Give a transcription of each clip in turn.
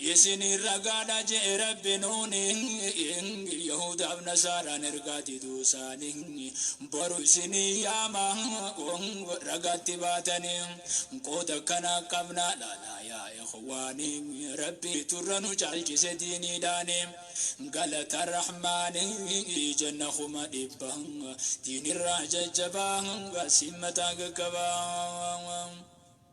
Isiniin ragaadha je'e Rabbi nuuni, Yahuudaaf Nasaaraan ergaa diduu isaanii. Boru isin hin yaama, ragatti baatanii. Qooda akkana qabna laalaa yaa ikhwaanii, Rabbiitu irra nu caalchise diiniidhaani. Galata Rahmaanii jenna kuma dhibba, Diinirraa jajjabaa, siin mataa gaggabaa.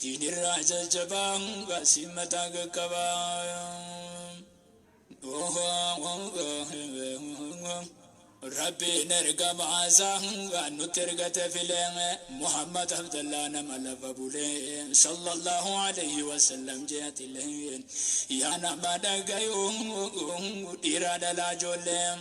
Diinirraa jajjabaa baasii mataa qaqqabaa. Rabbiin ergamaa isaa waan nutti ergate filee Muhammad Abdallaa nama lafa bulee sallallahu alayhi wa sallam jeetilee yaa nama dhagayuu dhiiraa dhalaa ijoollee.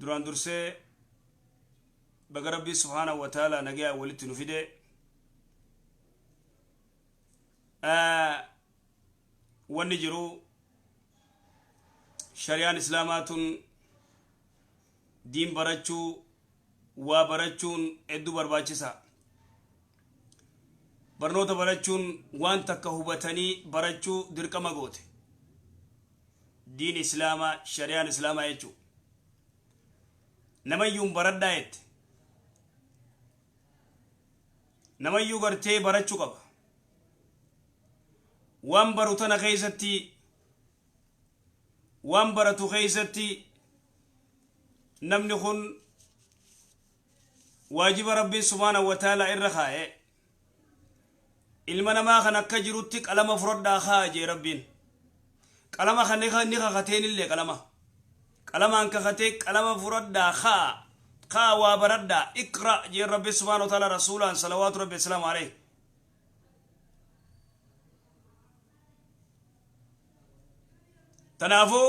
duraan dursee baga rabbii subhaanahu wa ta'aalaa nagayaan walitti nu fide wanni jiru shari'aan islaamaa tun diin barachuu waa barachuun hedduu barbaachisa barnoota barachuun waan takka hubatanii barachuu dirqama goote diin islaamaa shariyaan islaamaa jechuu namayyuun baradhaa jette namayyuu gartee barachuu qaba waan baru tana keessatti waan baratu keessatti namni kun waajiba rabbiin subhaanahu wa ta'aalaa irra kaa'e Ilma namaa kan akka jirutti qalama furadhaa kaa'a je'e Rabbiin. Qalama kan ni kakateenillee qalama. Qalamaan kakatee qalama furadhaa kaa'a, kaa'a waa baradhaa, iqra' je'e Rabbi subhaanahu wa ta'aalaa Rasuulaan salawaatu Rabbi wassalaamu alayhi. Tanaafuu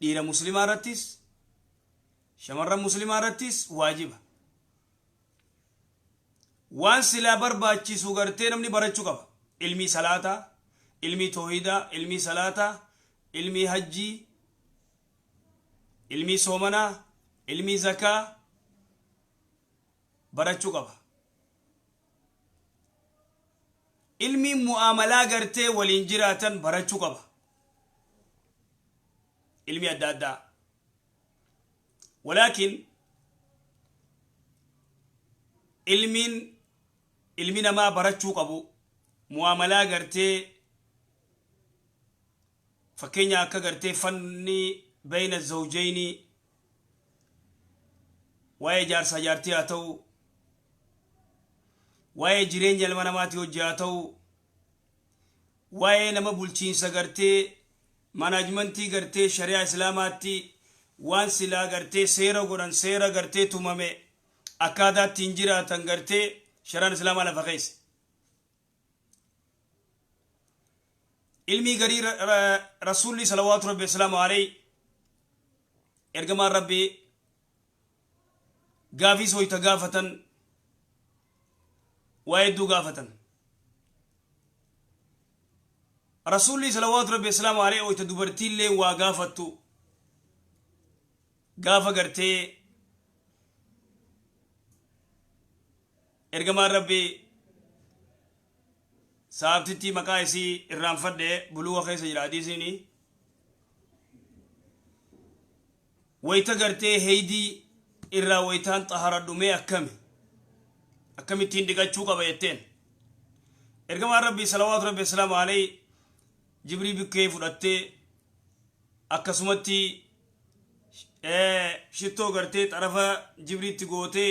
Dhiira muslimaa irrattis, shamarran muslimaa irrattis waajiba. Waan silaa barbaachisu gartee namni barachuu qaba. Ilmii salaataa, ilmii toohidaa, ilmii salaataa, ilmii hajjii, ilmii soomanaa, ilmii zakaa barachuu qaba. Ilmi mu'aamalaa gartee waliin jiraatan barachuu qaba. Ilmi adda addaa. Walaakin ilmiin ilmi namaa barachuu qabu mu'aamalaa gartee Fakkeenya akka gartee fanni bayna zawjayni waa'ee jaarsaa jaartii haa ta'u, waa'ee jireenya ilma namaatii hojji haa ta'u, waa'ee nama bulchiinsa gartee manaajmantii gartee shari'aa islaamaatti waan silaa gartee seera godhan seera gartee tumame akkaataa ittiin jiraatan gartee shari'aan islaamaa lafa keesse. ilmii garii rasuulli salawaatu rabbi wasalaamu aleyhi ergamaan rabbi gaafii sooyta gaafatan waa hedduu gaafatan rasuulli salawaatu rabbi wasalaamu aleyhi oyta dubartiillee waa gaafattu gaafa gartee Ergamaan Rabbii, Sahaabtittii maqaa isii irraanfadhe, Buluuga keessa jira hadiisiini, wayta gartee heydii irraa waytaan xaharadhu mee akkami? Akkamittiin dhiqachuu qaba jetteen. Ergamaan Rabbii salawaatu Rabbi wasalaamu alayhi jibrii bikkee fudhattee akkasumatti shittoo gartee xarafa jibriitti gootee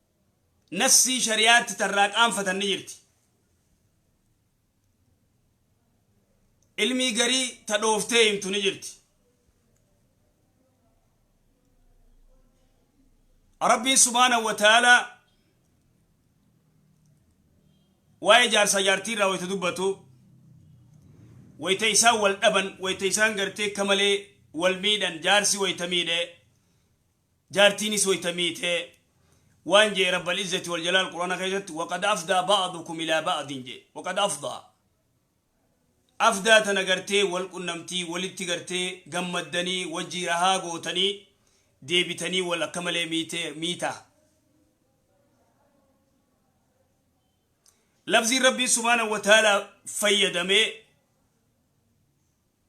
nassii shari'aatti tarraa qaanfatan ni jirti. Ilmii garii ta dhooftee himtu ni jirti. Rabbiin subhaanahu wa ta'aalaa waa'ee jaarsaa jaartii irraa wayita dubbatu wayita isaan wal dhaban wayita isaan gartee akka malee wal miidhan jaarsi wayita miidhe Jaartiinis wayta miite waan je'e Rabbal Izzati wal Jalaal Qur'aana keessatti waqad afdaa ba'dukum ilaa ba'din je'e. Waqad afdaa. Afdaa tana gartee wal qunnamtii walitti gartee gammaddanii wajjii rahaa gootanii deebitanii wal akka malee miite miita. Lafziin Rabbiin subhaanahu wa ta'aalaa fayyadame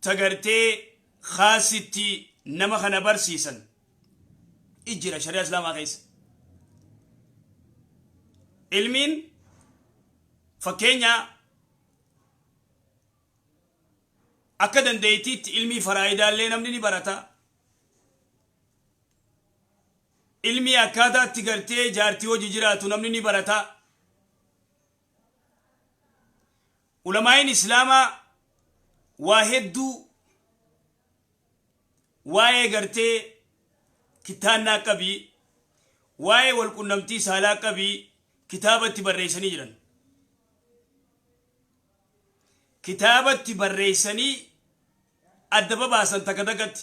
ta gartee khaasitti nama kana barsiisan i jira shari'aa islaamaa keessa ilmiin fakkeenya akka dandeeytiitti ilmii faraayidaallee namni ni barata ilmii akkaataatti gartee jaartii hojii jiraatu namni ni barata Ulamaa'iin Islaamaa waa hedduu waa'ee gartee kittaannaa qabii, waa'ee wal qunnamtii saalaa qabii kitaabatti barreessanii jiran. Kitaabatti barreessanii adda babaasan takka takkatti.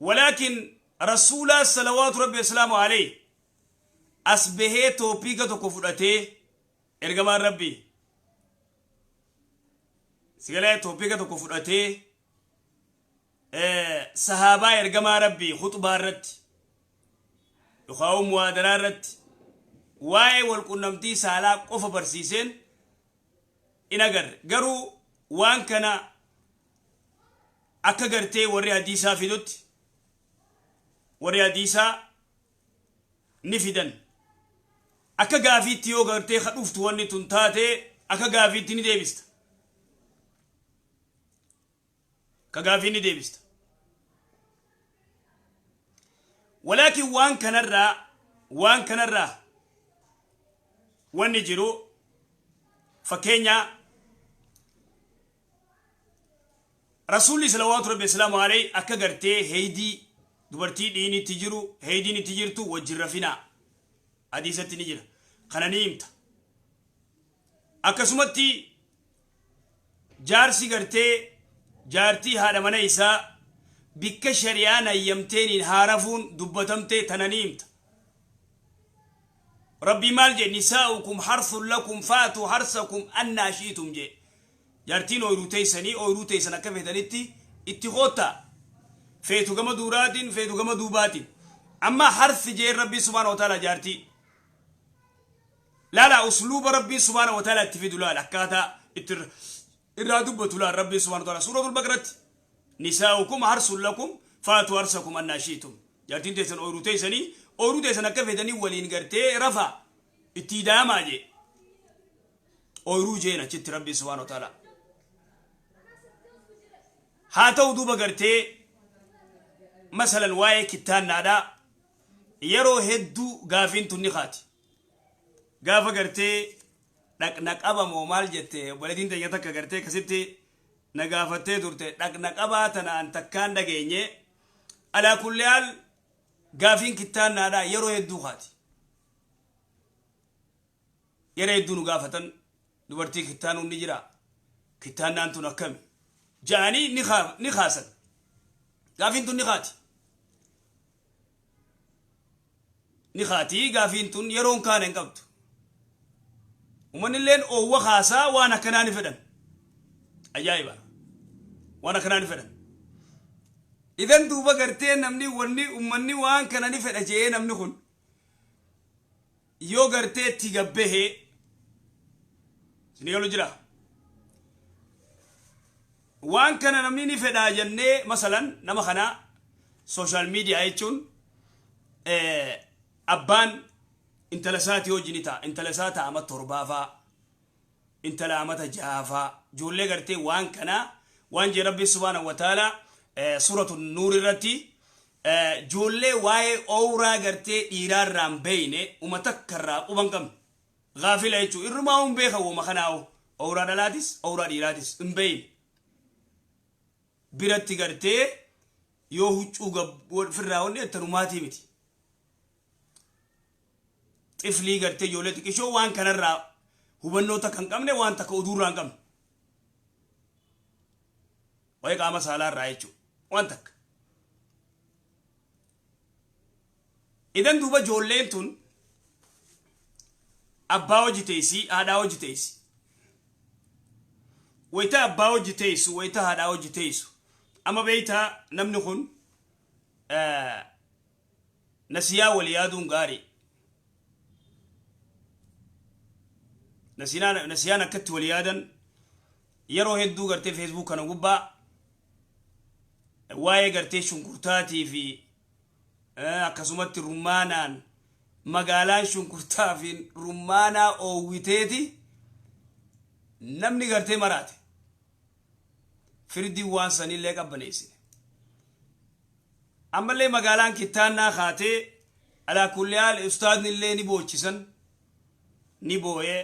walaakin rasuulaa salawaatu rabbi wasalaamu aleyh as bahee toopiika tokko fudhatee ergamaan rabbi sigalee toopiika tokko fudhatee sahaabaa ergamaa rabbi khuxbaa irratti yookaan muwaadaraa irratti waa'ee walqunnamtii saalaa qofa barsiiseen in agarre garuu waan kana akka gartee warri hadiisaa fidutti warri hadiisaa ni fidan akka gaafiitti yoo gartee ka dhuftu wanni tun taate akka gaafiitti ni deebista ka gaafii ni deebista walaakin waan kanarraa waan kanarraa wanni jiru fakkeenya Rasuulli salawaatu rabbi wasalaamu alayhi akka gartee heeydii dubartii dhiini itti jiru heeydiin itti jirtu wajjin rafinaa hadiisatti ni jira kana ni himta akkasumatti jaarsi gartee jaartii haadha mana isaa bikka shari'aan hayyamteeniin haarafuun dubbatamtee tana ni himta rabbii maal jee nisaa'ukum harsun lakum faatu harsakum annaa shi'itum jee Jaartiin ooyruu teeysanii ooyruu teeysan akka feetanitti itti koottaa. Feetu gama duuraatiin feetu gama duubaatiin. Amma harth je'een Rabbiin subhaanahu wa ta'aalaa jaartii. Laalaa usluuba Rabbiin subhaanahu wa ta'aalaa itti fidu laal akkaataa itti irra irraa dubbatu laal Rabbiin subhaanahu wa ta'aalaa suuratul baqaratti. Nisaa'ukum harsun lakum faatu harsakum annaa shi'tum. Jaartiin teeysan ooyruu teeysanii ooyruu teeysan akka feetanii waliin gartee rafaa itti ida'amaa jee. ooyruu jeen achitti rabbiin subhaana wa ta'ala haa ta'u duuba gartee masalan waa'ee kittaannaadha yeroo hedduu gaafiin tunni kaati gaafa gartee dhaqna qabamoo maal jette obboleettiin teenya takka gartee akkasitti na gaafattee turte dhaqna qabaa tanaan takkaan dhageenye alaa kulli haal gaafiin kittaannaadha yeroo hedduu kaati Yeroo hedduu nu gaafatan dubartii kittaanuun ni jiraa? Kittaannaan tun akkami? Ja'anii ni kaa- ni kaasan. Gaafiin tun ni kaati. Ni kaati gaafiin tun yeroon kaana hin qabdu. Uummanilleen oowwa kaasaa waan akkanaa ni fedhan. Ajaa'iba! Waan akkanaa ni fedhan. Idan duuba gartee namni wanni uummanni waan kana ni fedha je'ee namni kun yoo gartee itti gabbahee sini galu jira waan kana namni ni fedhaa jennee masalan nama kana sooshaal miidiyaa jechuun abbaan intala isaatii hojii ni ta'a intala isaa ta'a amma torbaafaa intala amata jahaa faa ijoollee gartee waan kanaa waan jee rabbiin subhaanahu wa ta'aala suuratu nuur irratti ijoollee waa'ee owraa gartee dhiiraa irraa hin beeyne uma takka irraa quba hin qabne gaafila jechuu irrumaa hin beekan woma kanaahu owraa dhalaatis owraa dhiiraatis hin beeyne biratti gartee yoo huccuu gab- wal- firraa wanni jettanumaatii miti xiflii gartee ijoollee xiqishoo waan kanarraa hubannoo takka hin qabne waan takka oduurraa hin qabne waa'ee qaama saalaa irraa jechuudha waan takka. Idan duuba ijoolleen tun abbaa hojii teessi haadhaa hojii teessi. Wayita abbaa hojii teessu wayita haadhaa hojii teessu amma beektaa namni kun Nasiyaa wal yaaduun gaarii. Nasinaa- Nasiyaan akkatti wal yaadan yeroo hedduu gartee Facebook kana gubbaa waa'ee gartee shunkurtaatii fi eh, akkasumatti rummaanaan magaalaan shunkurtaa fi rummaanaa oowwiteeti namni gartee maraate. firdiin waan sanillee qabbaneessine. Ammallee magaalaan kittaannaa kaatee alaa kulli haal ustaadni illee ni boochisan ni booyee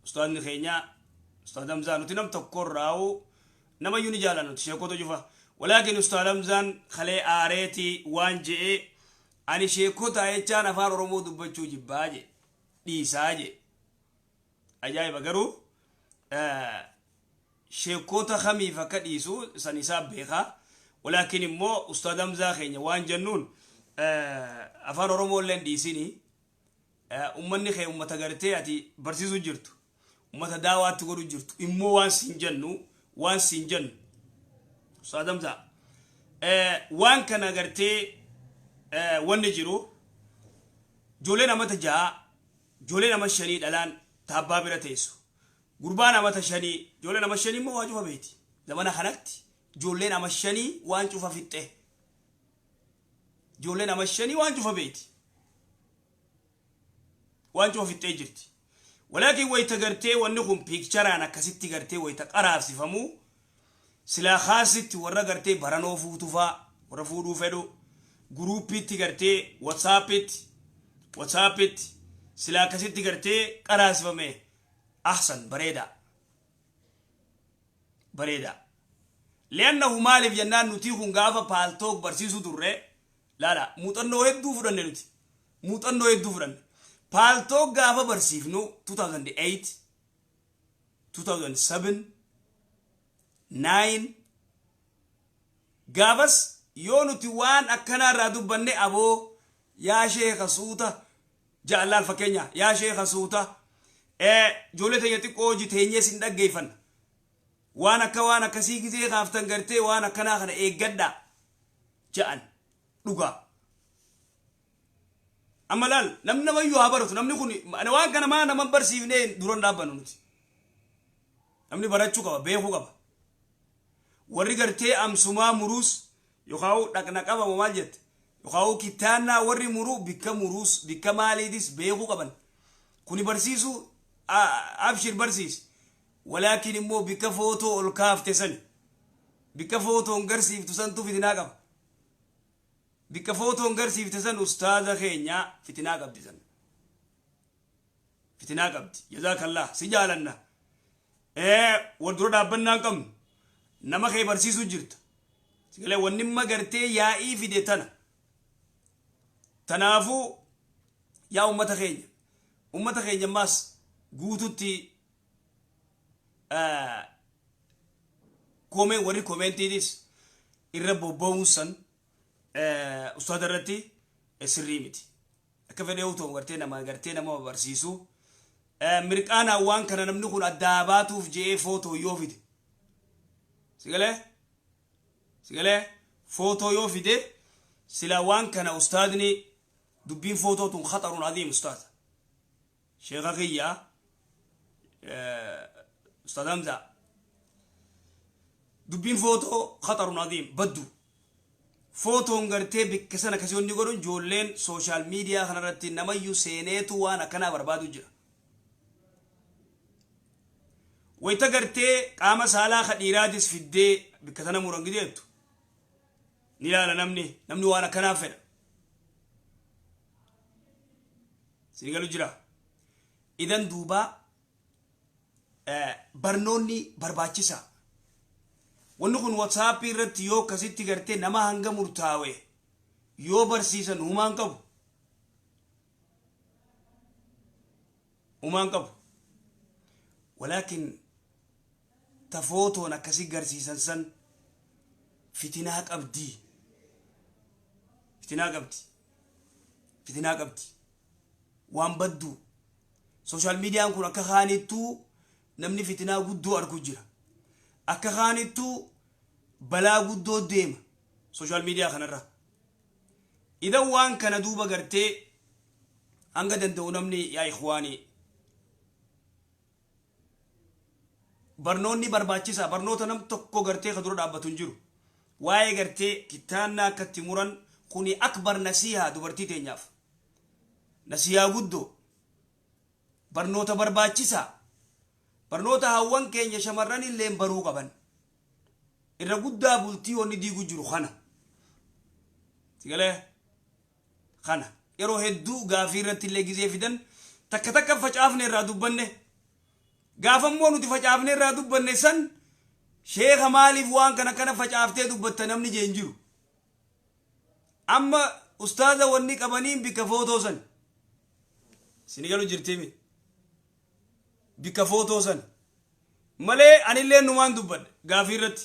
ustaadni keenyaa ustaad Hamzaa nuti nam tokko irraa'u nama iyyuu ni jaallanna nuti sheekota cufa walaakin ustaad Hamzaan kalee aareeti waan je'ee ani sheekota jechaan afaan Oromoo dubbachuu jibbaa je dhiisaa je Ajaa'iba garuu sheekkoota kamiif akka dhiisu san isaa beeka. Walaakin immoo Ustaad Hamzaa keenya waan jennuun afaan Oromoo illee hin dhiisini. Ummanni kee ummata gartee ati barsiisu jirtu. Ummata daawaatti godhu jirtu. Immoo waan siin jennu waan siin jennu. Ustaad Hamzaa waan kana gartee wanni jiru ijoolleen amata ja'a Jolee nama shanii dhalaan ta abbaa bira teessu. Gurbaan amata shanii joleen ama shanii immoo waa cufa beeti. Zamana kanatti joolleen ama shanii waan cufa fixxe. Joolleen ama shanii waan cufa beeti. Waan cufa fixxee jirti. Walaakin wayita gartee wanni kun piikcharaan akkasitti gartee wayita qaraabsifamu Silaa khaasitti warra gartee baranoo fuutu faa warra fuudhuu fedhu guruuppiitti gartee whatsaappiitti whatsaappiitti silaa akkasitti gartee qaraasifame ahsan bareedaa bareedaa li'annahu maaliif jennaan nutii kun gaafa paaltook barsiisuu turre laala muuxannoo hedduu fudhanne nuti muuxannoo hedduu fudhanne paaltook gaafa barsiifnu 2008 2007 9 gaafas yoo nuti waan akkanaa irraa dubbanne aboo yaa sheeka suuta jaallaal fakkeenya yaa sheeka suuta ijoollee teenya xiqqoo hojii teenyee sin dhaggeeffanna waan akka waan akkasii gizee kaaftan gartee waan akkanaa kana eeggadhaa ja'an dhugaa. Amma laal namni namayyuu haa baratu namni kun waan kana maa nama barsiifnee duran dhaabbannu nuti. Namni barachuu qaba beekuu qaba. Warri gartee amsumaa muruus yookaan dhaqna qabama maal jette yookaan kittaannaa warri muruu bikka muruus bikka maaliitis beekuu qaban. Kuni barsiisuu abshir barsiisi. Walaakin immoo bikka footoo ol kaafte sani. Bikka footoon garsiiftu santu fidinaa qaba. Bikka footoon garsiifte san ustaaza keenya fitinaa qabdi san. Fitinaa qabdi. Jazaakallah si jaalanna. Ee wal dura dhaabbannaa hin qabnu. Nama kee barsiisuu jirta. Sigalee wannimma gartee yaa'ii fide tana. Tanaafuu yaa ummata keenya. Ummata keenya maas guututti komee warri komeentiitis irra bobba'uun san ustaada irratti sirrii miti. Akka fedhee utuu gartee nama gartee nama barsiisu mirqaanaa waan kana namni kun addaa baatuuf je'ee footoo yoo fide. Sigalee? Sigalee? Footoo yoo fide sila waan kana ustaadni dubbiin footoo tun khaxaruun adiim ustaada. Sheeka kiyya Ustaaz Hamza dubbiin footoo khatarun adiim baddu footoon gartee bikka sana kasi wanni godhun joolleen sooshaal miidiyaa kanarratti namayyu seeneetu waan akkanaa barbaadu jira. Wayita gartee qaama saalaa ka dhiiraatis fiddee bikka sana muran gideettu ni ilaala namni namni waan akkanaa fedha. Sini galu jira. Idan duuba barnoonni barbaachisa. Wanni kun WhatsApp irratti yoo akkasitti gartee nama hanga murtaawe yoo barsiisan humaan qabu. Humaan qabu. Walaakin ta footoon akkasi garsiisan san fitinaa qabdi fitinaa qabdi fitinaa qabdi waan baddu social median kun akka kaanittuu namni fitinaa guddoo argu jira akka kaanittuu balaa guddoo deema social media kanarra idan waan kana duuba gartee hanga danda'u namni yaa ikhwaanii Barnoonni barbaachisaa barnoota nam tokko gartee ka dura dhaabbatu hin jiru. Waa'ee gartee kittaannaa akka itti muran kuni akbar nasiihaa dubartii teenyaaf. Nasiihaa guddoo. Barnoota barbaachisaa. Barnoota hawwan keenya shamarran illeen baruu qaban. Irra guddaa bultii wanni diigu jiru kana. Sigalee? kana yeroo hedduu gaafii irratti illee gizee fidan takka takka facaafne irraa dubbanne gaafa immoo nuti facaafne irraa dubbanne san sheeka maaliif waan kana kana facaaftee dubbatta namni jeen jiru amma ustaaza wanni qabaniin bikka footoo san sini galu jirtimi bikka footoo san malee anillee numaan dubbadha gaafii irratti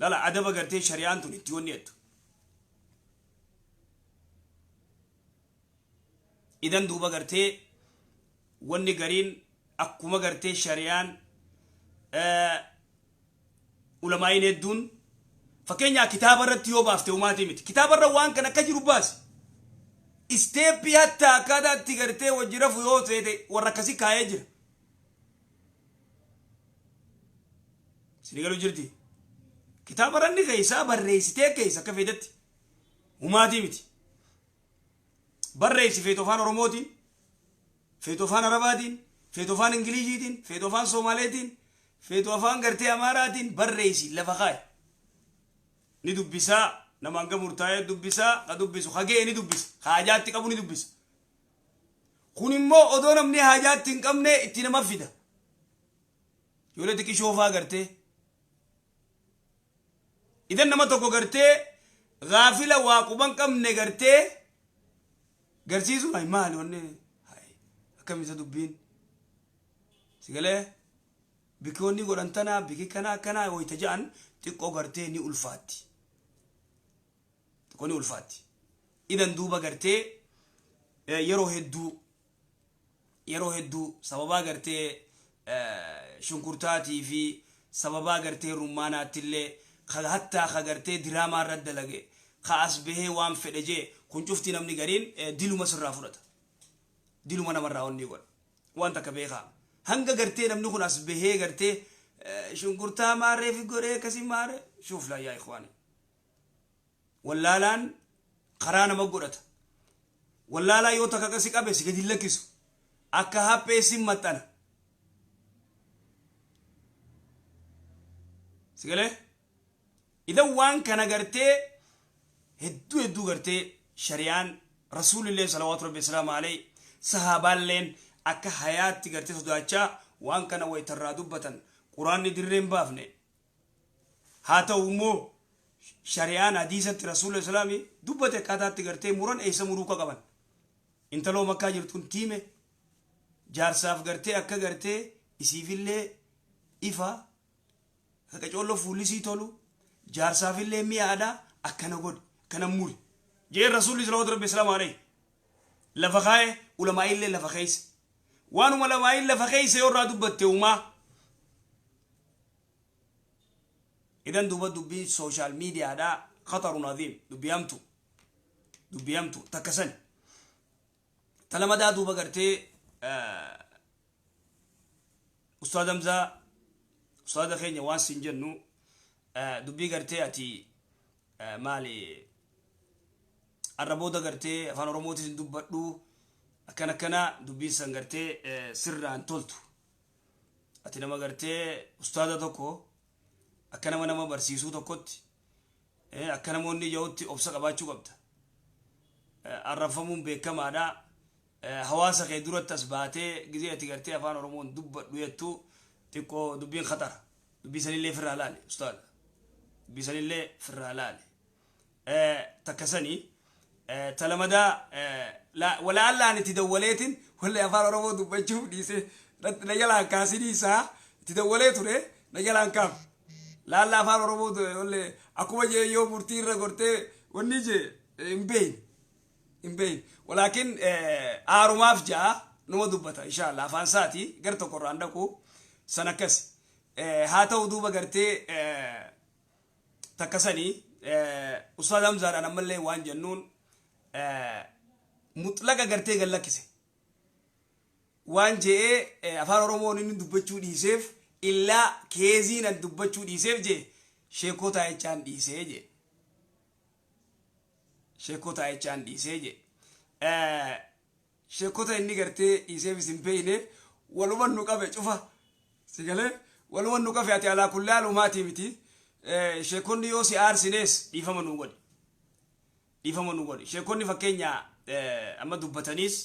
Lala adaba gartee shari'aan tun itti wanni jettu. Idan duuba gartee wanni gariin akkuma gartee shari'aan ulamaa'iin hedduun fakkeenyaa kitaaba irratti yoo baafte umaatii miti. Kitaaba irra waan kan akka jiru baasi. Isteeppii hatta akkaataa itti gartee wajji rafu yoo ta'e warra akkasii kaa'ee jira. sinigalu jirti kitaaba ranni keessaa barreessitee keessa akka feetetti humaatii miti barreessi feetu afaan oromootiin feetu afaan arabaatiin feetu afaan ingiliziitiin feetu afaan soomaaleetiin feetu afaan gartee amaaraatiin barreessi lafa kaa'i ni dubbisaa namaan gamurtaa'ee dubbisaa ka dubbisu hagee ni dubbisa haajaatti qabu ni dubbisa Kun immoo odoo namni haajaa itti hin qabne itti nama fida. Ijoollee xiqqishoo faa gartee. Idan nama tokko gartee gaafila waa quban qabne gartee garsiisuun hayi maali wanni hayi akkamisa dubbiin sigalee bikki wanni godhan tanaa bikki kanaa akkanaa wayita ja'an xiqqoo gartee ni ulfaatti. Xiqqoo ni ulfaatti. Idan duuba gartee eh, yeroo hedduu yeroo hedduu sababaa gartee eh, shunkurtaatii fi sababaa gartee rummaanaattillee ka hattaa ka gartee diraamaa irra dalage ka as bahee waan fedhe jee kun cufti namni gariin eh, diluma sirraa fudhata. diluma namarraa onnii godha waan takka beekaa hanga gartee namni kun as bahee gartee eh, shunkurtaa maarree fi goree akkasii maarree shuuf laayyaa ikwaanii wallaalaan karaa nama godhata. Wallaalaa yoo takaka si qabe si gadi hin lakkisu. Akka haphee sin maxxana. Si galee? Idan waan kana gartee hedduu hedduu gartee shari'aan rasuulilleen salawaatu rabbi salaamu alayhi sahaabaalleen akka hayaatti gartee sodaachaa waan kana wayitarraa dubbatan quraanni dirreen baafne Haa ta'u immoo shari'aan hadiisatti Rasuulli Islaam dubbate akkaataa itti gartee muran eessa muruu akka qaban. Intaloo makkaa jirtuun tiime jaarsaaf gartee akka gartee isiifillee ifa ka qacoollo fuullisii tolu jaarsaafillee mi'a aadaa akkana godhi akkana muri. Jeen Rasuulli Salawaatu Rabbi Islaam Alayhi lafa kaa'e ulamaa'illee lafa keeyse. Waanuma ulamaa'iin lafa keeyse yoo irraa dubbatte umaa Idan duuba dubbiin social media dhaa khatarun adhiim dubbii hamtu dubbii hamtu takka sani. Ta lamadaa duuba gartee Ustaad Hamzaa ustaada keenya waan siin jennu dubbii gartee ati maali arra booda gartee afaan oromootis hin dubbadhu akkan akkana dubbiin san gartee sirraan toltu ati nama gartee ustaaza tokko akka nama nama barsiisuu tokkotti eh, akka namoonni ija'utti obsa qabaachuu qabda Eh, arrabfamuun beekamaadha Eh, hawaasa kee duratti as baatee gizee ati gartee afaan oromoon dubbadhu jettu xiqqoo dubbiin khatara dubbii sanillee firraa laale ustaaza dubbii sanillee firraa laale takka sanii ta lamadaa walaallaan itti dawwaleetiin wallee afaan oromoo dubbachuuf dhiisee na jalaan kaasinii isaa itti dawwalee ture na jalaan kaaf laalla afaan oromoo wallee akkuma jee yoo murtii irra gortee wanni jee hin beeyin hin beeyin walaakin aarumaaf ja'a numa dubbata inshaallah afaan isaati gar tokko irraan dhaqu san akkasi haa ta'u duuba gartee takka sani ustaaz hamzaadhaan ammallee waan jennuun muxlaqa gartee gad lakkise waan je'ee afaan oromoon inni dubbachuu dhiiseef illaa keeziin an dubbachuu dhiiseef jee sheekoo taa'ichaan dhiisee jee sheekoo taa'ichaan dhiisee jee shekkota inni gartee dhiiseefis hin beeyne waluman nu qabe cufa si galee waluman nu qafe ati alaa kulli haalumaatii miti shekkonni yoo si aarsinees dhiifama nu godhi dhiifama nu godhi shekkonni fakkeenya amma dubbataniis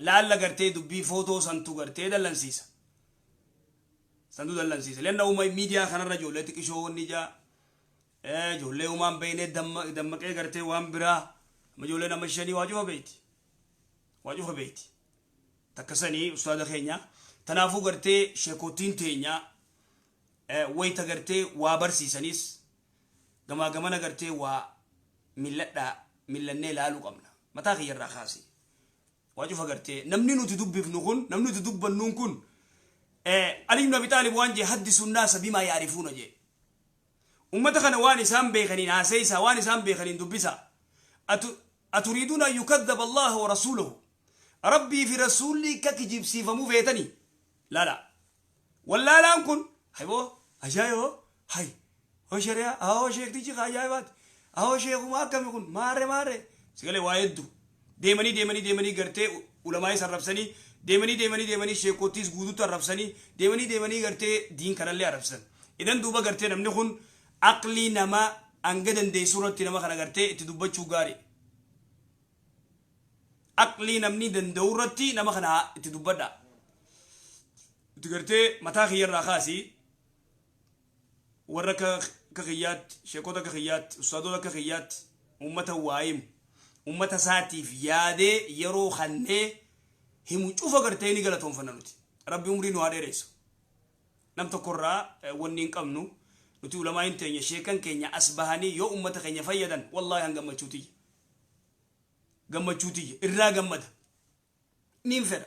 laalla gartee dubbii footoo santu gartee dallansiisa santu dallansiisa lenna uuma miidiyaa kanarra ijoollee xiqishoo wanni jaa Eh, ijoollee uumaan beeynee damma- dammaqee gartee waan biraa amma ijoollee nama shanii waa cufa beeyti waa cufa beeyti takka sanii ustaada keenya tanaafuu gartee sheekootiin teenyaa eh, wayta gartee waa barsiisaniis gamaa gamana gartee waa milladhaa millannee laaluu qabna mataa kiyyarraa kaasee waa cufa gartee namni nuti dubbifnu kun namni nuti dubbannuun kun eh, Ali ibn Abi Taalib waan jee haddi sunnaa sabimaa yaarifuuna jee Ummata kana waan isaan beekaniin haaseeysaa, waan isaan beekaniin dubbisaa. Atu, Aturiiduuna an yukaddaba Allaaha wa rasuulahu. Rabbii fi Rasuulli akka kijibsiifamu feetanii? Laalaa. Wallaalaan kun, hay boo, ajaa'iba boo, hay, hoo shari'aa, awoo sheektichi ka ajaa'ibaati, awoo sheekuma akkami kun, maarre maarre, si galee waa heddu. Deemanii deemanii deemanii gartee ulamaa'is arrabsanii, deemanii deemanii deemanii sheekkoottiis guutuutti arrabsanii, deemanii deemanii gartee diin kanallee arrabsan. Idan duuba gartee namni kun aqlii nama hanga dandeessu irratti nama kana gartee itti dubbachuu gaariidha. Aqlii namni danda'u irratti nama kana haa itti dubbadhaa. Itti gartee mataa kiyya irraa kaasii warra akka akka kiyyaatti sheekota akka kiyyaatti ustaadota akka kiyyaatti ummata waa himu ummata isaatiif yaadee yeroo kannee himu cufa gartee ni galatoonfanna nuti rabbi umrii nu haa dheeressu nam tokkorraa eh, wanni hin qabnu nuti ulamaa hin teenya sheekan keenya as bahanii yoo ummata keenya fayyadan wallaahi han gammachuutiyya gammachuutiyya irraa gammada niin fedha.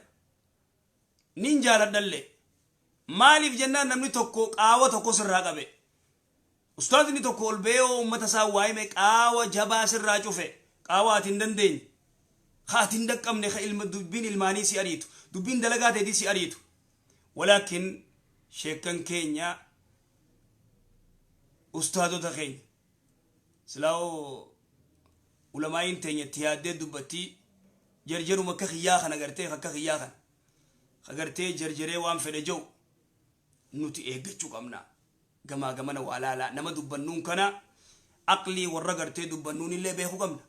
Niin jaaladhallee. Maaliif jennaan namni tokko qaawa tokko sirraa qabe. Ustaazni tokko ol ba'ee hoo ummata isaa waa hime qaawa jabaa sirraa cufe. Qaawa ati hin dandeenye. Ka ati hin dhaqqabne ka ilma dubbiin ilmaanii si ariitu. Dubbiin dalagaa teetii si ariitu. Walaakin sheekkan keenya ustaazota keenya. silaa hoo ulamaa'iin teenya itti yaaddee dubbattii jarjaruma akka kiyyaa kana gartee akka kiyyaa kana ka gartee jarjaree waan fedhe ja'u nuti eeggachuu qabna gamaa gamana waa laalaa nama dubbannuun kana aqlii warra gartee dubbannuun illee beekuu qabna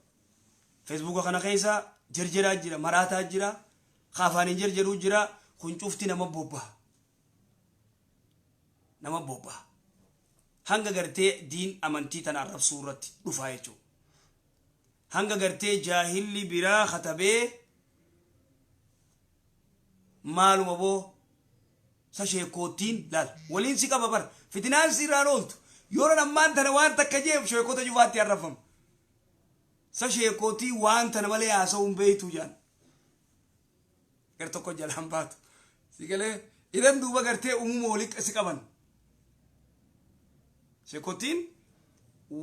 feesbuuka kana keessa jarjaraa jira maraataa jira ka afaaniin jarjaruu jira kun cufti nama bobbaha nama bobbaha hanga gartee diin amantii tana arrabsuu irratti dhufaa jechuu hanga gartee jaahilli biraa katabee maaluma boo sa sheekkoottiin laal waliin si qaba bar fitinaan si irraan ooltu yeroon ammaan tana waan takka jeef sheekota cufaatti arrabfama sa sheekkoottii waan tana malee haasa'uun beeytuu jaan gar tokko jalaan baatu si galee iran duuba gartee uumuma walitti si qaban shekotiin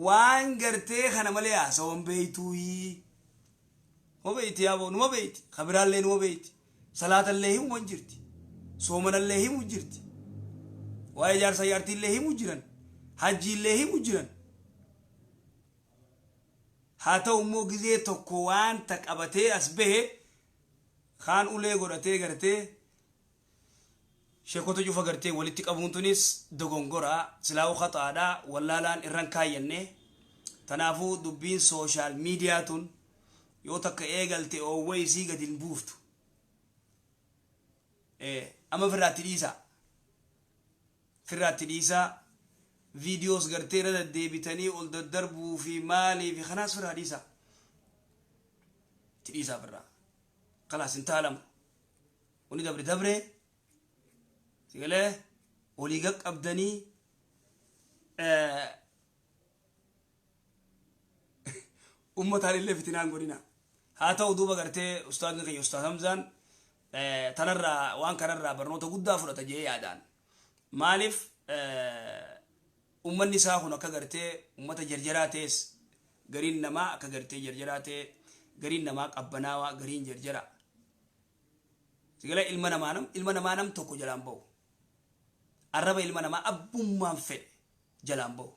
waan gartee kana malee haasawan beeytuuyii numa beeyti yaaboo numa beeyti kabiraallee numa beeyti salaatallee himu man jirti soomanallee himu jirti waa'ee jaarsa jaartiillee himu jiran hajjiillee himu jiran Haa ta'u immoo gizee tokko waanta qabatee as bahe kaan ulee godhatee gartee sheekota cufa gartee walitti qabuun tunis dogongora silaa'uu khaxa'aadha wallaalaan irran kaayyanne tanaafuu dubbiin sooshaal miidiyaa tun yoo takka eegalte oowwa isii gadi hin buuftu Eh, amma firraatti dhiisaa firraatti dhiisaa videos gartee irra daddeebitanii ol daddarbuu fi maalii fi kanaas firraa dhiisaa itti dhiisaa firraa kalaas hin taalamu wani dabre dabre sigalee walii qaqqabdanii ummataan illee fitinaan godhina haa ta'u duuba gartee ustaadni keenya ustaad hamzaan tanarraa waan kanarraa barnoota guddaa fudhata jee yaadaan Maaliif ummanni isaa kun akka gartee ummata jarjaraa ta'es gariin namaa akka gartee jarjaraa ta'e gariin namaa qabbanaawaa gariin jarjara. Sigala ilma namaa nam ilma namaa nam tokko jalaan ba'u. Arraba ilma namaa abbummaan fedhe jalaan ba'u.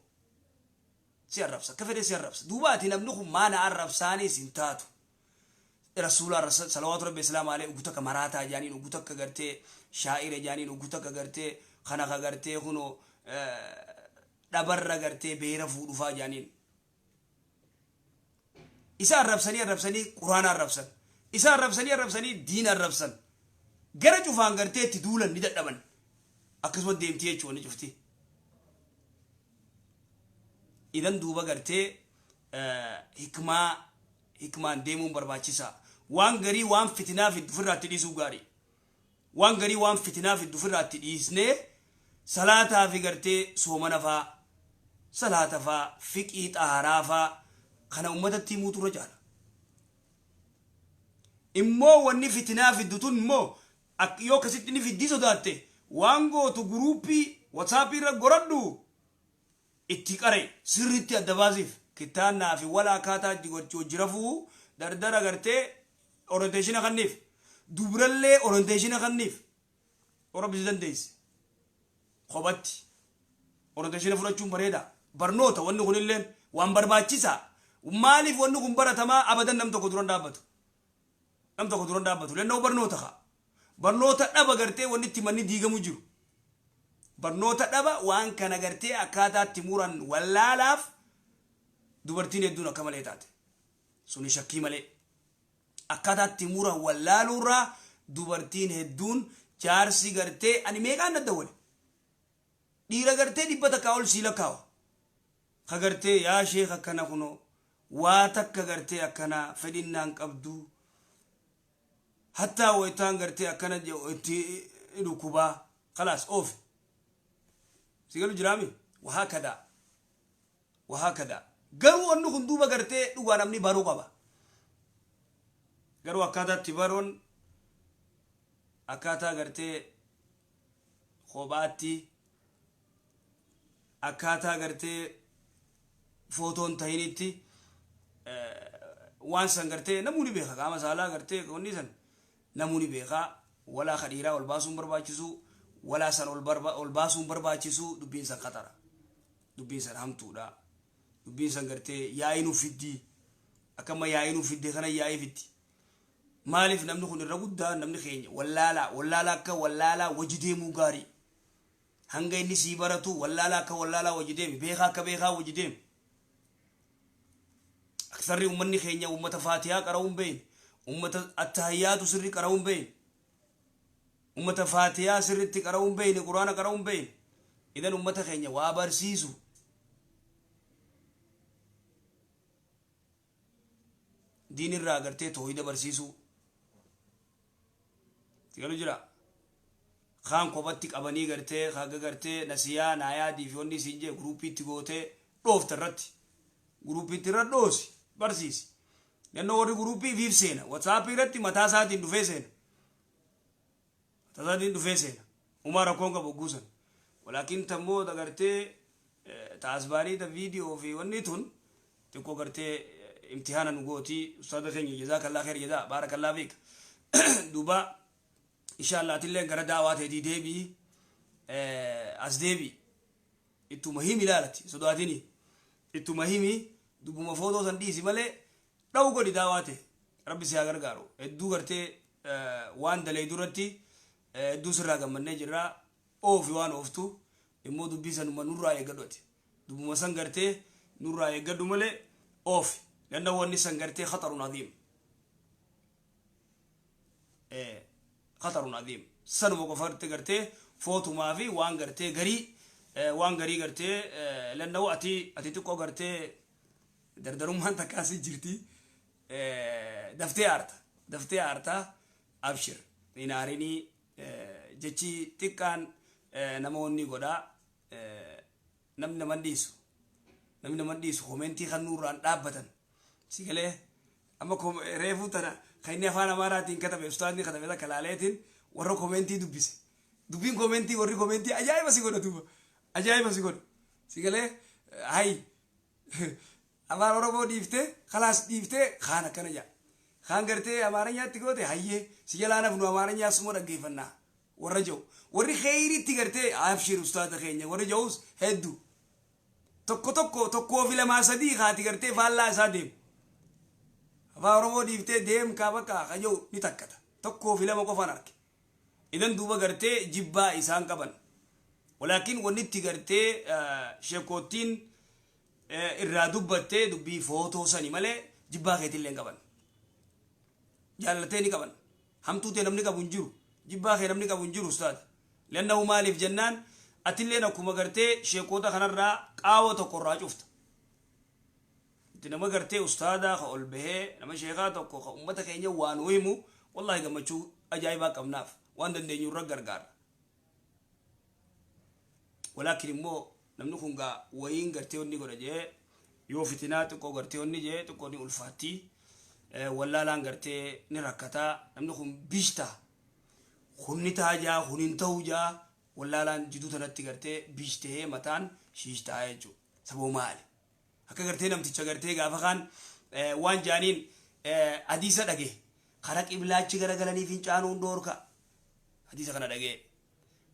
Si arrabsa akka fedhe si arrabsa. Duuba ati namni kun maana arrabsaanis hin taatu. Rasuulaa Rasa Salawaatu Rabbi Islaama Alee Ugu Takka Maraataa Jaaniin Ugu Takka Gartee Shaa'ira Jaaniin Ugu Takka Gartee Kana Ka Gartee Kunoo Dhabarra Gartee Beera Fuudhufaa Jaaniin Isa Arrabsanii Arrabsanii Quraana Arrabsan Isa Arrabsanii Arrabsanii Diin Arrabsan Gara Cufaan Gartee Itti Duulan Ni Dadhaban Akkasuma Deemti Jechuu Wanni Cufti Idan Duuba Gartee Hikmaa Hikmaan deemuun barbaachisaa. Waan garii waan fitinaa fiddu firraatti dhiisuu gaarii. Waan garii waan fitinaa fiddu firraatti dhiisnee salaataa fi gartee soomana faa, salaata faa, fiqhii, xahaaraa faa kana ummatatti himuutu irra caala. Immoo wanni fitinaa fiddu tun immoo ak- yoo akkasitti ni fiddii sodaatte waan gootu guruuppii WhatsApp irra goradhu itti qare sirritti adda baasif kittaannaa fi wala akkaataa itti gochi hojji rafuu dardara gartee orienteeshina kanniif dubrallee orienteeshina kanniif orabisi dandeesse kophatti orienteeshina fudhachuun bareeda barnoota wanni kunilleen waan barbaachisaa maaliif wanni kun baratamaa abadan nam tokko duran dhaabbatu nam tokko duran dhaabbatu lennoo barnoota kaa barnoota dhaba gartee wanni itti manni diigamu jiru barnoota dhaba waan kana gartee akkaataa itti muran wallaalaaf dubartiin hedduun akka malee taate suni shakkii malee akkaataa itti muran wallaaluurraa dubartiin hedduun jaarsi gartee ani meeqaan dadda wale Dhiira gartee dhibba takkaa ol sii lakkaawa. Ka gartee yaa sheekh akkana kunoo waa takka gartee akkanaa fedhinnaa hin qabdu. Hattaa waytaan gartee akkana je'u itti dhukkubaa. Khalaas oofi. Si galu jiraami? Wahaakadaa. Wahaakadaa. Garuu wanni kun duuba gartee dhugaa namni baruu qaba. Garuu akkaataa itti baruun akkaataa gartee kophaatti akkaataa gartee footoon tahinitti waan san gartee namuu ni beeka qaama saalaa gartee wanni san namuu ni beeka walaa ka dhiiraa ol baasuun barbaachisu walaa san ol barba- ol baasuun barbaachisu dubbiin san qaxara dubbiin san hamtuudha dubbiin san gartee yaa'ii nuuf fiddii akkamma yaa'ii nuuf fidde kana yaa'ii fiddi Maaliif namni kun irra guddaa namni keenya wallaalaa wallaalaa akka wallaalaa wajji deemuu gaarii hanga inni sii baratuu wallaalaa akka wallaalaa wajji deemi beekaa akka beekaa wajji deemi aksarri ummanni keenya ummata faatiyaa qara'uu hin beeyne ummata attahayyaatu sirri qara'uu hin beeyne ummata faatiyaa sirritti qara'uu hin beeyne quraana qara'uu hin beeyne idan ummata keenya waa barsiisu diin irraa agartee toohida barsiisuu tigalu jira kaan kophatti qabanii gartee haga gartee nasiyaa naayaadii fi wanni isiin jee guruupiitti gootee dhoofta irratti guruupiitti irra dhoosi barsiisi yannoo warri guruupii fiif seena watsaappii irratti mataa isaatiin dhufee seena Tazadiin dhufee seena. Umaa rakkoon qabu hogguu san. Walaakin tan booda gartee ta asbaanii ta viidiyoo fi wanni tun xiqqoo gartee imtihaana nu gootii ustaada keenya jazaa kallaa kheer jazaa baara kallaa fiik duuba inshaallah atilleen gara daawaa teetii deebii as deebii ittuma himi ilaalati sodaatini ittuma himi dubbuma footoo san dhiisi malee dhawu godhi daawaa tee rabbi si haa gargaaru hedduu gartee waan daleeydu irratti hedduu sirraa gammannee jirra oofi waan ooftu immoo dubbii sanuma nurraa eeggadhu ati dubbuma san gartee nurraa eeggadhu malee oofi lanna wanni san gartee khatarun adiim khatarun adiim sanuma qofa irratti gartee footumaa fi waan gartee garii waan garii gartee lanna ati ati xiqqoo gartee Dardarummaan takkaa si jirti daftee aarta daftee aarta abshir hin aarinii jechi xiqqaan nama onnii godhaa namni naman dhiisu namni naman dhiisu komentii kan nuurraan dhaabbatan si galee amma reefuu tana kan inni afaan amaaraatiin katabe ustaazni katabe takka laaleetiin warra komentii dubbise dubbiin komentii warri komentii ajaa'iba si godha duuba ajaa'iba si godha si galee hayi Afaan Oromoo dhiiftee, khalaas dhiiftee khaan akkana jedha. Khaan gartee Amaaranyaatti goote hayyee si jalaa hin hafnu Amaaranyaa suma dhaggeeffanna warra jedhu. Warri kheyriitti gartee abshir ustaaza keenya warri jedhus heddu. Tokko tokko tokkoo fi lamaa sadii khaati gartee faallaa isaa deemu. Afaan Oromoo dhiiftee deem kaa bakka akka jedhu ni takkata. Tokkoo fi lama qofaan arge. Idan duuba gartee jibbaa isaan qaban. Walaakin wannitti gartee shekoottiin irraa dubbatte dubbii footoo sani malee jibbaa keetillee hin qaban. Jaalala tee ni qaban. Hamtuu tee namni qabu hin jiru. Jibbaa kee namni qabu hin jiru ustaaza. Lannahu maaliif jennaan atilleen akkuma gartee sheekoota kanarraa qaawa tokko irraa cufta. Nuti nama gartee ustaadaa ka ol bahee nama sheekaa tokko ka ummata keenya waa nuu himu wallaahi gammachuu ajaa'ibaa qabnaaf waan dandeenyu irra gargaarra. Walaakin immoo namni kun gaa wayiin gartee wanni godha jee yoo fitinaa xiqqoo gartee wanni jee xiqqoo ni ulfaatti wallaalaan gartee ni rakkata namni kun bish taha kun ni taha jaa kun hin tahu jaa wallaalaan jiduu tanatti gartee bish tahee mataan shiish taha jechuudha saboo maali. akka gartee namticha gartee gaafa kaan waan jaaniin hadiisa dhage kara qiblaachi gara galanii fincaanuun dhoorka hadiisa kana dhagee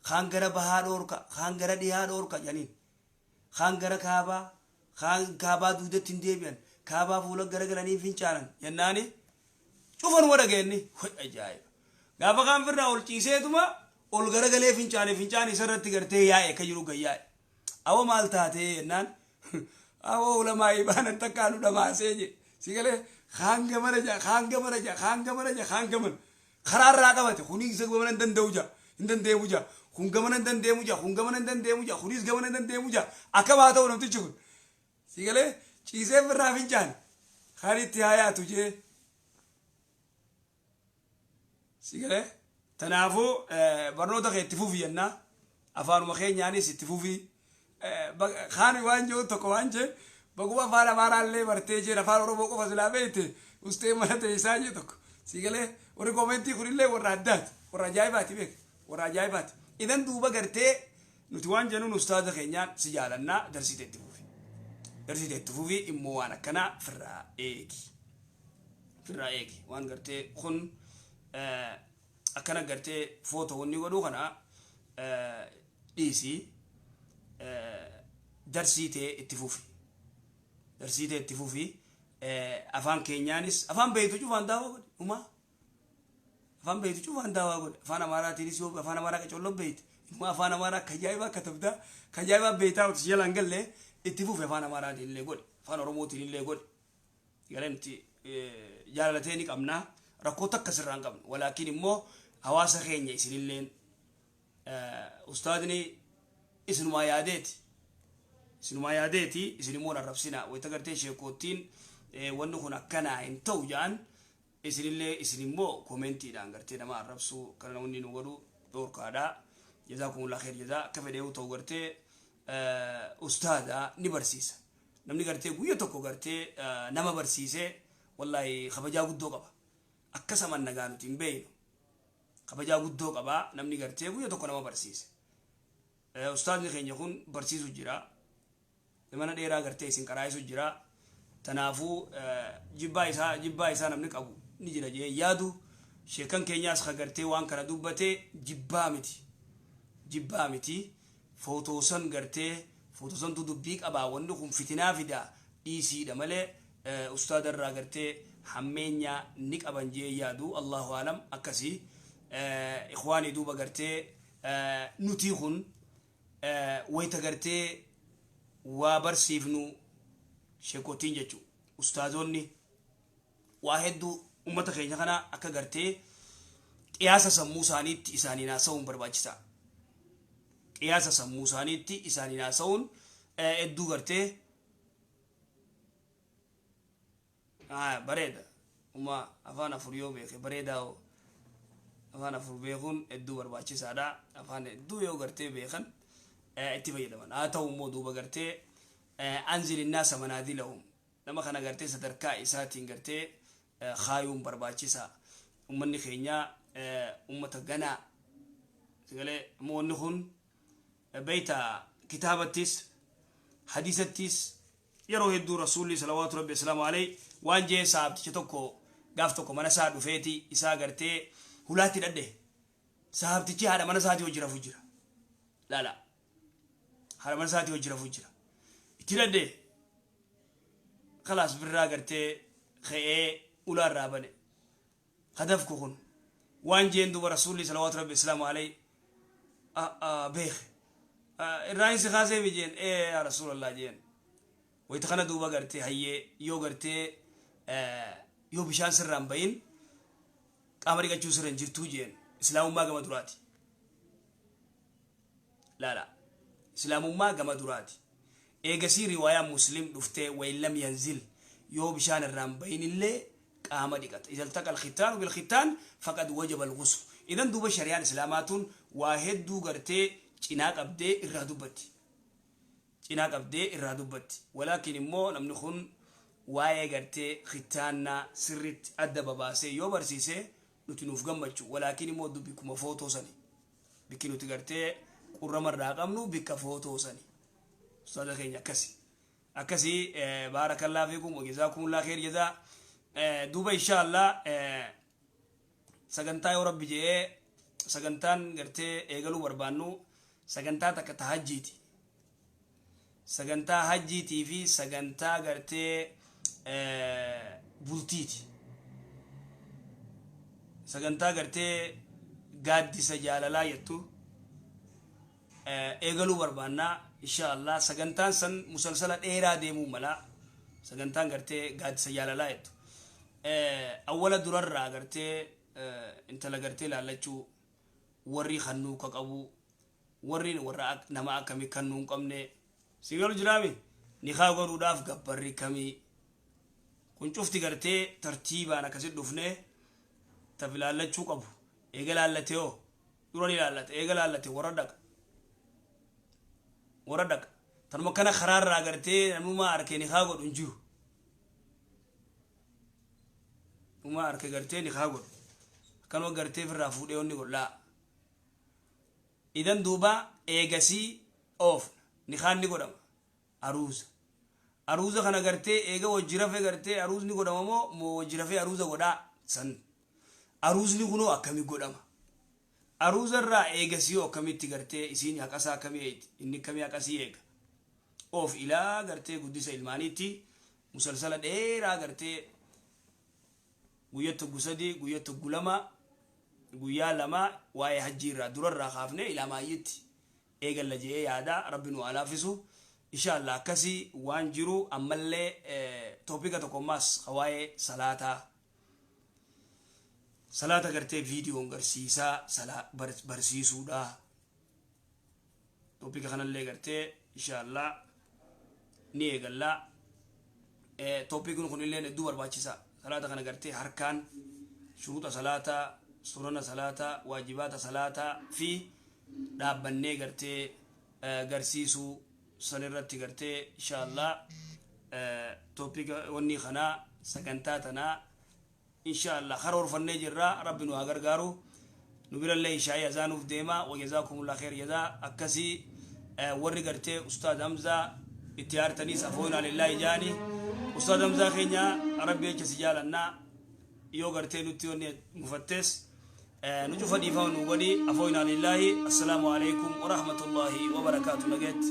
kaan gara bahaa dhoorka kaan gara dhihaa dhoorka jaaniin kaan gara kaabaa kaan kaabaa duudatti hin deebi'an kaabaa fuula gara galanii fincaanan jennaani cufanuma dhageenni hoy ajaa'iba gaafa kaan firraa ol ciiseetuma ol gara galee fincaane fincaan isarratti gartee yaa'e akka jiru gayyaa'e Awoo maal taatee jennaan awoo ulamaa'ii baanan takkaa nu dhamaasee je si galee kaan gamana ja kaan gamana ja kaan gamana ja kaan gamana karaa irraa qabate kunis gamana hin danda'u ja hin dandeemu ja kun gamana hin dandeemu ja kun gamana hin dandeemu ja kunis gamana hin dandeemu ja akkam haa ta'u namtichi kun si galee ciisee birraa fincaan kan itti haa yaatu jee Si galee? Tanaafuu barnoota kee itti fufi jennaa. Afaanuma keenyaanis itti fufi. Kaan waan jiru tokko waan jeen baguma afaan Amaaraa illee bartee jeen afaan Oromoo qofa silaa beekte ustee mana teessaa jee tokko. Si galee? Warri koomentii kun illee warra addaati. Warra ajaa'ibaati beek. Warra ajaa'ibaati. Idan duuba gartee nuti waan jennuun ustaaza keenyaan si jaalannaa darsii teetti fufi. Darsii teetti fufi immoo waan akkanaa firraa eegi. firraa eegi waan gartee kun akkana gartee footoo wanni godhuu kana dhiisii darsii tee itti fufi darsii tee itti fufi afaan keenyaanis afaan beeytu cufaan daawaa godhe umaa afaan beeytu cufaan daawaa godhe afaan amaaraatiinis yoo afaan amaaraa qacolloo beeyte umaa afaan amaaraa akka ajaa'ibaa katabdaa akka ajaa'ibaa beeytaa utis jalaan gallee itti fufi afaan amaaraatiin illee godhe afaan oromootiin illee godhe Garee nuti jaalala ta'e ni qabna. Rakkoo takka sirraa hin qabnu. Walaakiin immoo hawaasa keenya isinilleen ustaadni isinumaa yaadeeti. Isinumaa yaadeeti isin immoo hin arrabsina. Wayita gartee sheekoottiin wanni kun akkanaa hin ta'u ja'an Isinillee isin immoo commentiidhaan gartee nama arrabsuu akkana namni nu godhu dhoorkaadha. Jazaakumullaah kheeyr jazaa akka fedhee yoo ta'u gartee ustaaza ni barsiisa. Namni gartee guyya tokko gartee nama barsiise wallaahi kabajaa guddoo qaba. Akkas aman nagaa nuti hin beeynu. Kabajaa guddoo qaba namni gartee guyya tokko nama barsiise. Ustaazni keenya kun barsiisu jira. Zamana dheeraa gartee isin qaraa'isu jira. Tanaafuu jibbaa isaa jibbaa isaa namni qabu ni jira jedhee hin yaadu. Sheekkan keenyaas ka gartee waan kana dubbate jibbaa miti. Jibbaa miti. Footoosan gartee footoosantu dubbii qabaa wanni kun fitinaa fida dhiisiidha malee ustaada irraa gartee hammeenya ni qaban jedhee hin yaadu. Allaahu a'lam akkasi. Ikhwaanii duuba gartee nutii kun wayta gartee waa barsiifnu sheekottiin jechuu ustaazoonni waa hedduu ummata keenya kana akka gartee qiyaasa sammuu isaaniitti isaaniin haasa'uun barbaachisaa qiyaasa sammuu isaaniitti isaaniin haasa'uun hedduu gartee Haaya bareeda uma afaan afur yoo beeke bareedaa hoo afaan afur beekuun hedduu barbaachisaadha afaan hedduu yoo gartee beekan itti fayyadaman haa ta'u immoo duuba gartee anzil innaasa manaazilahum nama kana gartee sadarkaa isaatiin gartee kaayuun barbaachisaa ummanni keenya ummata ganaa sagalee immoo wanni kun beeyta kitaabattis hadiisattis Yeroo hedduu Rasuulli, salawaatu Rabbi wasalaamu aleyh, waan je'e sahaabticha tokko gaaf tokko mana isaa dhufeeti isaa gartee hulaatti dhadhahe. Sahaabtichi haadha mana isaatii wajji rafu jira. Laala. Haadha mana isaatii wajji rafu jira. Itti dhadhahe. Khalaas birraa gartee khe'ee ulaa irraa bane. hadaf ko kun waan jeen duba rasuulli salawaatu rabbi islaama alay a a beeke a irraa hin si kaaseemi jeen ee yaa rasuulallah jeen wayta kana duuba gartee hayyee yoo gartee eh, yoo bishaan sirraa hin bayin qaama dhiqachuu sirra hin jirtuu jeen islaamummaa gama duraati Laalaa. Islaamummaa gama duraati. Eegasii riwaayaan Muslim dhuftee wain lam yanzil yoo bishaan irraa hin bayinillee qaama dhiqata. Iza iltaqa alkhittaanu bilkhittaan faqad wajaba alghuslu. Idan duuba shari'aan Islaamaa tun waa hedduu gartee cinaa qabdee irraa dubbatti. Cinaa qabdee irraa dubbatti. Walaakin immoo namni kun waa'ee gartee khittaannaa sirritti adda babaasee yoo barsiise nuti nuuf gammachu. Walaakin immoo dubbi kuma footoo sani. Bikki nuti gartee qurrama irraa qabnu bikka footoo sani. Ustaaza keenya akkasi. Akkasi baarakallaa fiikum wajazaa kumullaa keer jazaa. Duuba inshaallah sagantaa yoo rabbi je'ee sagantaan gartee eegaluu barbaannu sagantaa takka tahajjiiti. sagantaa hajjiitii fi sagantaa gartee bultiiti sagantaa gartee gaaddisa jaalalaa jettu eegaluu barbaannaa insha Allah sagantaan san musalsala dheeraa deemuu mala sagantaan gartee gaaddisa jaalalaa jettu awwala durarraa gartee intala gartee laallachuu warri hannuu ka qabu Warriin warra ak nama akkami kannuu hin qabnee. Sii galu jiraami nikaa godhuudhaaf gabbarri kami kun cufti gartee tartiibaan akkasi dhufnee taf ilaallachuu qabu eega laallate hoo dura ni laallata eega laallate warra dhaqa warra dhaqa tanuma kana karaa irraa gartee namuma arkee nikaa godhu hin jiru namuma arkee gartee nikaa godhu akkanuma gartee firraa fuudhee onni godhu laa Idan duuba eegasii oofna, nikaan ni godhama, aruuza. Aruuza kana gartee eega wajji rafe gartee aruuzni godhama moo moo wajji rafee aruuza godhaa? San aruuzni kunoo akkami godhama? Aruuza irraa eegasii hoo akkamitti gartee isiin haqasaa akkami eeyti? Inni akkami haqasii eega? Oof ilaa gartee guddisa ilmaaniitti musalsala dheeraa gartee Guyyatti hoggu sadii, guyyatti hoggu lama, guyyaa lama waa'ee hajjii irraa dura irraa kaafnee ilaa maayyiitti eegalla je'ee yaada rabbi nu haa laaffisu inshaa allaah akkasi waan jiru ammallee topica tokko ammaas ka waa'ee salaataa salaata gartee viidiyoon garsiisaa salaa barsiisuudha topic kanallee gartee inshallah ni eegalla topikin kunillee hedduu barbaachisa salaata kana gartee harkaan shuruuxa salaata sunana salaata waajibaata salaata fi dhaabbannee gartee garsiisuu san irratti gartee inshallah topika wanni kanaa sagantaa tanaa Inshaa Allah karoorfannee jirra rabbi nu haa gargaaru nu birallee ishaa'ii azaanuuf deema wajazaakumullaah kheeyr jazaa akkasii warri gartee ustaaz hamzaa itti aartaniis afooyinaa lillaahi ja'ani ustaaz hamzaa keenya rabbi jecha si jaalanna yoo gartee nutti wanni mufattees nu cufa dhiifama nu godhi afooyinaa lillaahi assalaamu alaikum warahmatullaahi wabarakaatu nageetti